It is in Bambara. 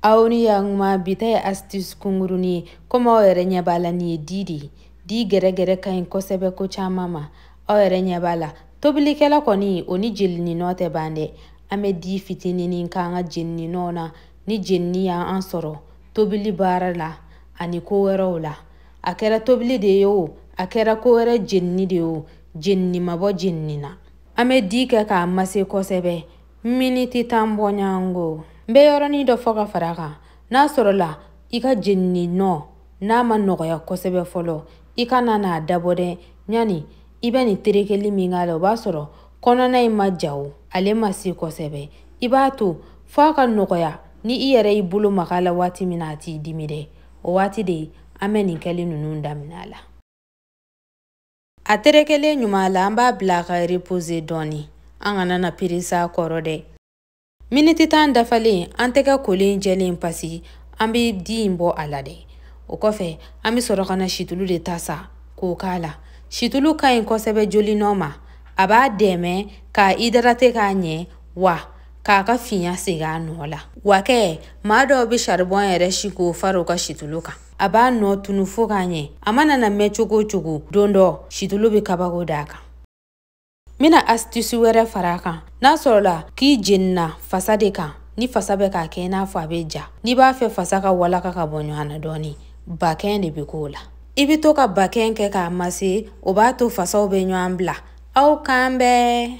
aw ni yankuma bi ta ye astuce kunkuruni ye komi aw yɛrɛ ɲɛ b'a la nin ye di de ye di gɛrɛgɛrɛ ka ɲi kosɛbɛ ko caman ma aw yɛrɛ ɲɛ b'a la tobilikɛla kɔni o ni jenininɔ tɛ ban dɛ an bɛ di fitininin k'an ka jenininɔw na ni jenini y'an sɔrɔ tobili baara la ani ko wɛrɛw la a kɛra tobili de ye o a kɛra ko wɛrɛ jenini de ye o jenini ma bɔ jenini na an bɛ di kɛ k'a mase kosɛbɛ miniti tan bɔɲɔgɔnko n bɛ yɔrɔnin dɔ fɔ ka fara a kan n'a sɔrɔla i ka jenini nɔ n'a ma nɔgɔya kosɛbɛ fɔlɔ i kana n'a dabɔ dɛ yani i bɛ nin terekeli min k'a la o b'a sɔrɔ kɔnɔna in ma ja o ale ma se kosɛbɛ i b'a to fɔ a ka nɔgɔya ni i yɛrɛ y'i bolo maga la waati min na a t'i dimi dɛ o waati de an bɛ nin kɛli ninnu daminɛ a la a terekelen ɲuman la an b'a bila ka repose dɔɔni an kana na peresa kɔrɔ dɛ miniti tan dafalen an tɛgɛ kolen jɛlen pasi an bɛ di in bɔ a la dɛ o kɔfɛ an bɛ sɔrɔ ka na situlu de ta sa k'o k'a la situlu ka ɲi kosɛbɛ joli nɔ ma a b'a dɛmɛ k'a idarate k'a ɲɛ wa k'a ka finya segin a nɔ la wa kɛ maa dɔw bɛ saribɔn yɛrɛ si k'o fara u ka situlu kan a b'a nɔ tunu fo k'a ɲɛ a mana na mɛn cogo o cogo don dɔ situlu bɛ kabako d'a kan n bɛna asitisi wɛrɛ fara a kan n'a sɔrɔla k'i jenina fasa de kan ni fasa bɛ k'a kɛ i n'a fɔ a bɛ ja n'i b'a fɛ fasa ka walaka ka bɔ ɲɔgɔn na dɔɔni bakɛn de bɛ k'o la i bɛ to ka bakɛn kɛ k'a mase o b'a to fasaw bɛ ɲɔgɔn bila aw k'an bɛn